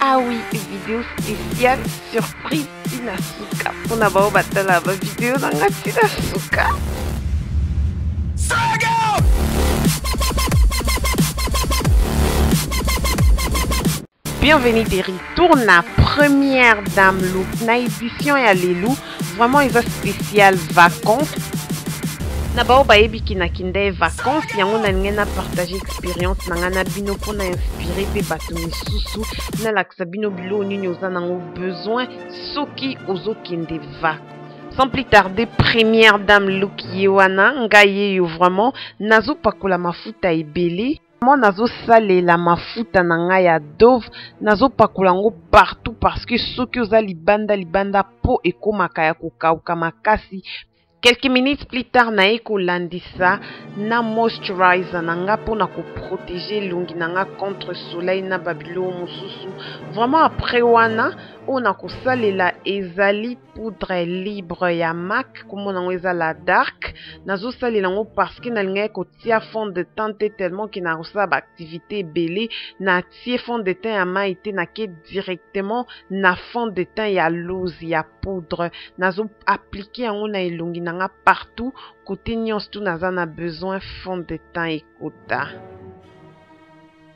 Ah oui, vidéo spéciale surprise Tina Suka. On a beau battre la vidéo dans la Tina Suka. Bienvenue Terry, tourne la première dame look na édition ya Lelou Vraiment eza spécial vacances. Na bao bayebi kinaki nde vacances yango nalingi na partage expérience na ngai na bino mpo na inspire mpe bato misusu nalakisa bino biloko nini oza nango besoin soki ozokende vacances sans plus tarder première dame look ye wana ngai yeyo vraiment nazopakola mafuta ebele Moi nazosalela mafuta na ngai ya dove nazopakola yango partout parce que soki oza libanda libanda po ekomaka ya kokauka makasi quelques minutes plus tard naye kolandisa na moisturizer na nga mpo na koprotege elongi na nga contre soleil na babiloko mosusu vraiment après wana oyo nakosalela ezali poudre libre ya mac nkombo nango eza la dark nazosalela yango parce que nalingaki kotia fond de teint te tellement ke nakosala baactivité ebele natie fond de teint ya mai te nake directement na fond de teint ya lose ya poudre nazo aplike yango na elongi na nga partout kote nyonso tu naza na besoin fond de teint ekota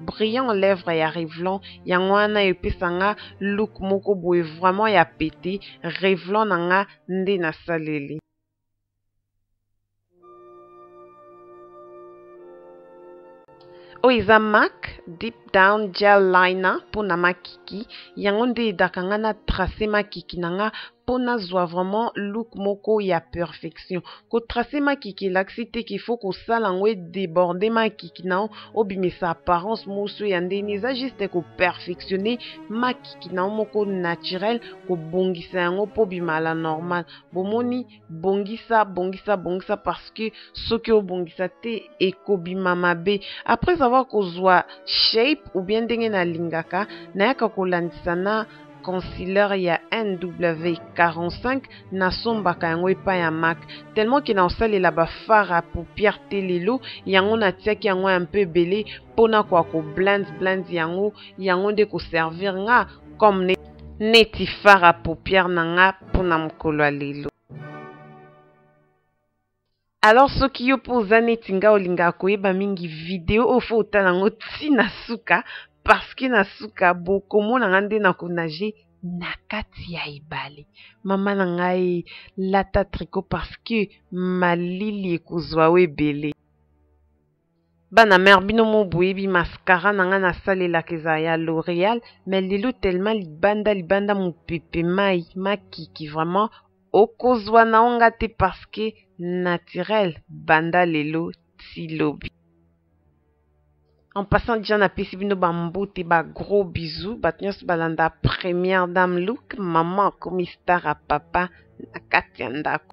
brillant lèvre ya Revlon yango wana epesa nga look moko boye vraiment ya pete Revlon na nga nde nasaleli oyo eza mac deep down gel liner mpo na makiki yango nde edaka nga na trace makiki na nga mpo nazwa vraiment look moko ya perfection kotrace makiki elakisi te qu'il faut kosala yango edeborde makiki na yo obimisa apparence mosu ya ndeni eza juste koperfectionne makiki na yo moko naturel kobongisa yango mpo bimala normal bomoni bongisa bongisa bongisa parce que soki obongisa te ekobima mabe après avoir kozwa shape ou bien ndenge nalingaka nayaka kolandisa na concilieur ya NW45 nasombaka yango epai ya Mac tellement ke naosalela ba fard à paupière te lelo yango natiaki yango ya mpe ebele mpo na koya ko blend blend yango yango nde koservir nga comme ne, neti fard à paupière na nga mpo na mokolo ya lelo. alors soki yo mpe oza neti nga olingaka koyeba mingi video oyo fo otala yango ti na suka parceke na suka bokomona nga nde na konage na kati ya ebale mama na ngai lata triko parceke malili ekozwa yo ebele Bana mère bino mo boyebi mascara na nga nasalelaka ezala ya L'Oreal mais lelo tellement libanda libanda mopepe mai makiki vraiment okozwa na yo nga te parce que naturel banda lelo ti lobi. En passant déjà napesi bino bambote ba gros bisous bato nyonso balanda première dame look maman akomi star ya papa na kati ya ndako.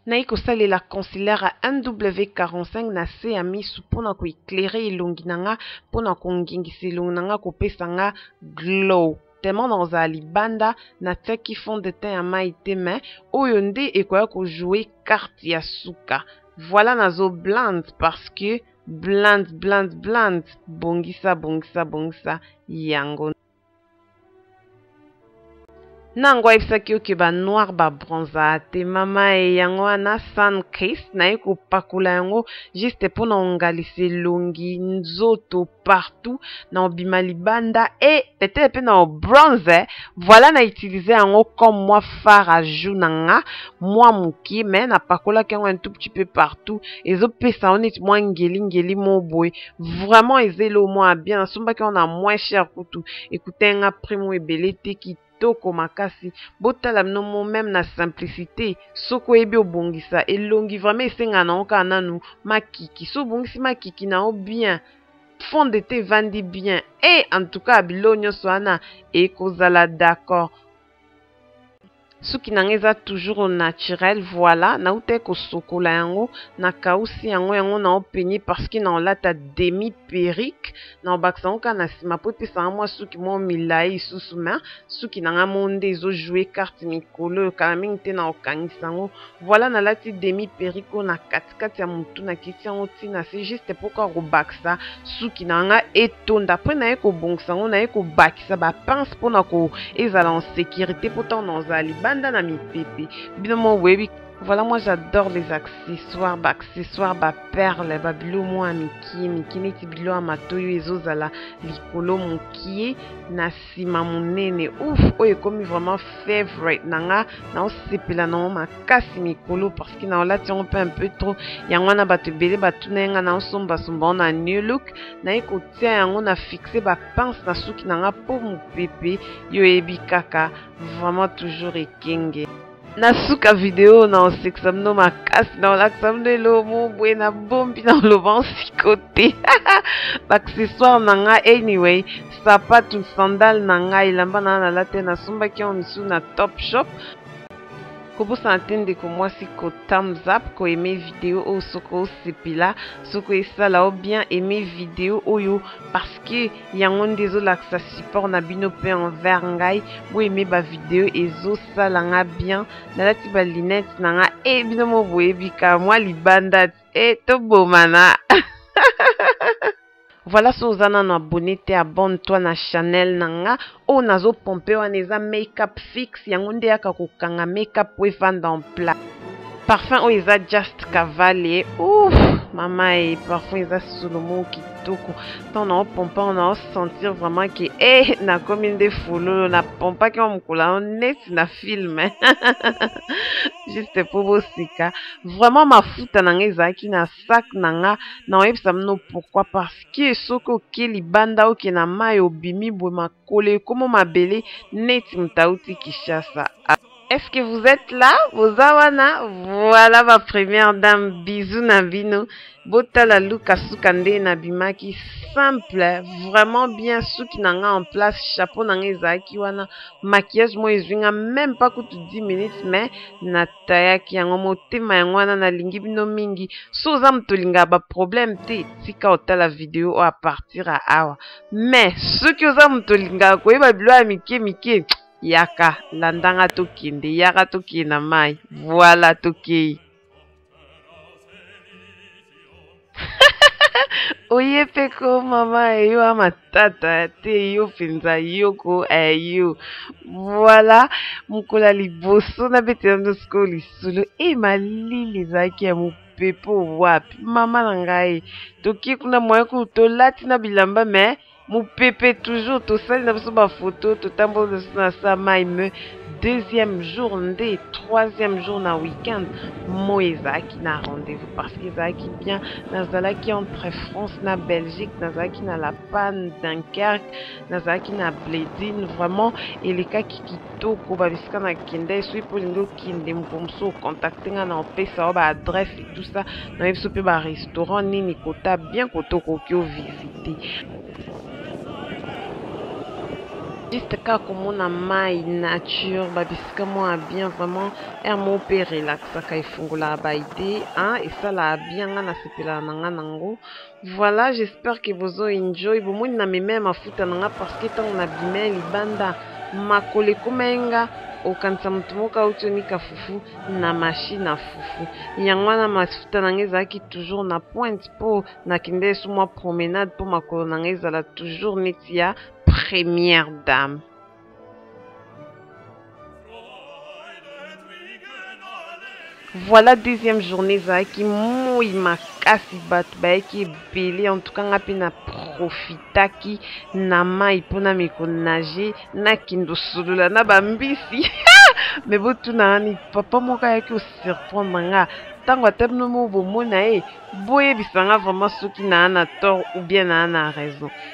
Naye kosalela concealer ya NW45 na se ya misu mpo na koeclaire elongi na nga mpo na kongengisa elongi na nga kopesa nga glow tellement nakozala libanda natiaki fond de teint ya mai te mais oyo nde ekoya kojoue carte ya suka voilà nazo blande parce que blande blande blande bongisa bongisa bongisa yango nango ayebisaki yo ke ba noir ba bronza te mama e yango wana sun kiss naye kopakula yango juste mpo na ongalisa elongi nzoto partout na obima libanda e petele mpe na obronze voilà na utilise yango comme mwa far a jour na nga mwa moke me napakolaki yango un tout petit peu partout ezopesa yango neti mwa ngelingeli mo boye vraiment eza eloo mwa ya bien nasombaki yango na moins cher kutu ekutaki nga prix moko ebele te kitoko makasi botala bino mo meme na simplicité soki oyebi obongisa elongi vraiment esengaka nango kaka nanu makiki so obongisi makiki na yo bien fond de te evandi bien e en tout cas biloko nyonso wana ekozala d'accord suki na ngai eza toujours au naturel voilà nautaki kosokola yango nakausi yango yango na openi parceke na olata demi perike na obakisa yango kaka na nsima mpo epesa nga mwa suki moko milai lisusu ma suki na ngai moko nde ezojoue karte mikolo oyo kala mingi te na okangisa yango voilà nalati demi perike oyo na katikati ya mutu nakiti yango ti na se juste poko akobakisa suki na nga etonda apres naye kobongisa yango naye kobakisa bapince mpona ko ezala en sécurité mpo ntango nazala libanda na mipepe bino moko boyebi Voilà, moi j'adore les accessoires, bah, accessoires, bah, perles, bah, bilo moi mikie, mikie neti bilo ya matoyo ezozala likolo mokie na sima monene ouf oyo ekomi vraiment favorite na nga naosepela nango makasi mikolo parce que naolati yango mpe un peu trop yango wana bato ebele batuna ye nga naosombasomba yango na new look naye kotia yango na fixe bapense na suki na nga mpo mopepe yo oyebi kaka vraiment toujours ekenge na suka video na osekisa bino makasi na olakisa bino elomo boye na bombi na oloba nsiko te baaccessoire na ngai anyway sapatu sandal na ngai elamba na ngai nalate nasombaki yango mosusu na top shop kobosana te ndeko mwasi ko thumbs up ko aime video oyo soki osepela soki esala o bien aime video oyo parce que yango nde ezolakisa support na bino mpe envers ngai boyeme bavideo ezosala nga bien nalati balinete na nga e eh, bino mo boyebika mwa libanda e eh, tobomana voilà so oza nano abonne te abonne toi na chanel na nga oyo nazo pompe wana eza makeup fixe yango nde yaka kokanga makeup po efanda en plat parfum oyo eza just cavale ouf mama e parfum eza solo moko kitoko ntango nao pompa ngo nao sentir vraiment ke e eh, nakomi nde fololo na pompaki yango mokolo yango neti na film juste mpo bosika vraiment mafuta na ngai ezalaki na sac na nga na oyebisa bino pourquoi parce que soki oke libanda oke na mai obimi boye makolo ekomo mabele neti moto auti Kinshasa Est-ce que vous êtes là Boza wana Voilà ma première dame Bisous na bino Botala Luka suka nde na bimaki Simple Vraiment bien Suki na nga en place Chapeau na nga ezalaki wana Maquillage moi ezwi nga Même pas kutu 10 minutes Mais na tayaki yango motema yango wana nalingi bino mingi so oza moto olingaka baproblème te tika otala video oyo apartir ya awa mais soki oza moto olingaka koyeba bilo ya mike mike yaka landanga tokende yaka tokende na mai voila tokei oye mpe ko mama eyo a matata te yo mpenza yoko eyo eh, voilà mokolo ya liboso nabetela ndo sikoyo lisolo e eh, malili ezalaki ya mopepe wapi mama na ngai tokie kuna moye kutu tolati na bilamba mais mopepe toujours tosali na biso bafoto totamboli biso na sa mai me deuxième jour nde troisième jour na week-end moi ezalaki na rendez-vous parce que ezalaki bien nazalaki entre france na belgique nazalaki na la panne dunkerque nazalaki na bledine vraiment elekaki kitoko babisika nakendai soki mpo olingi okende mokolo mosusu ocontacte ngai na opesa yo baadresse tout ça na ye biso mpe barestaurant nini kota bien kota okoki ovisite juste kaka komona mai nature babisika mwa bien vraiment air moko mpe relaxaka efungolaka baide esalaka bien ngai nasepelaka na ngai nango Voilà, j'espère que bozo enjoy. Bomoni na meme mafuta na nga parce que tango na bimai libanda makolo ekomaki nga okanisa moto moko auti onika fufu na mashine ya fufu yango wana mafuta na nga ezalaki toujours na pointe mpo nakende esu mwa promenade mpo makolo na nga ezala toujours neti ya première dame voilà deuxième journée ezalaki moi makasi bato bayaki ebele en tout cas nga mpe na profitaki na mai mpo na mikonage nakende osolola na bambisi me botuna wani papa moko ayaki osurprendre nga ntango ata bino moko bomona ye boyebisa nga vraiment soki naa na tort ou bien naa na raison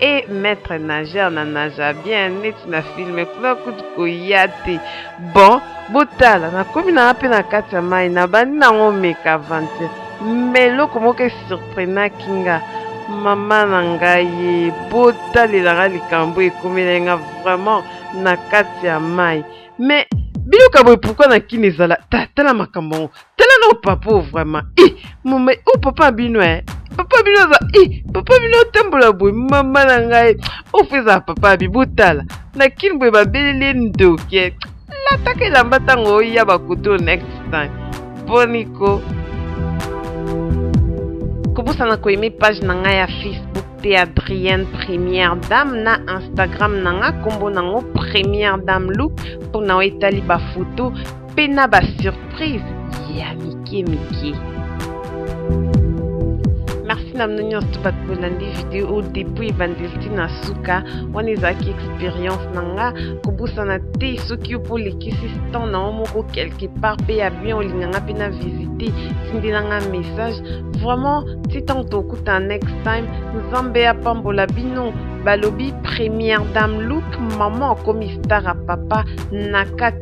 e maître nageur na naza bien neti na filme kuna kutu koya te bon botala nakomi nanga mpe na kati ya mai nabandi nango omeka aventure ma eloko moko esurprenaki nga mama na ngai ye botalela nga likambo ekomelai nga vraiment na kati ya mai mais biluka boye pourkui na kini ezala tala makambo yango tala no papa oyo vraiment i mama o papa bino e papa bino aza i papa bino otambola boye mama na ngai ofu ezala papa bi botala na kini boye babeleli ye ndoke lataka elamba ntango oya bakutu next time boniko kobosana koyeme page na ngai ya facebook te adrienne première dame na instagram na ngai nkombo nango première dame look mpo na oyo etali bafoto mpe na ba surprise ya mike mike merci na bino nyonso bato bolandi video depuis ebandeli ti na suka wana ezalaki experience na nga kobosana te soki yo mpo olekisi temps na yo moko quelque part mpe ya bien olinga nga mpe na visite tindela nga message vraiment ti ntango tokutana next time nzambe apambola bino balobi première dame look maman akomi star ya papa na kati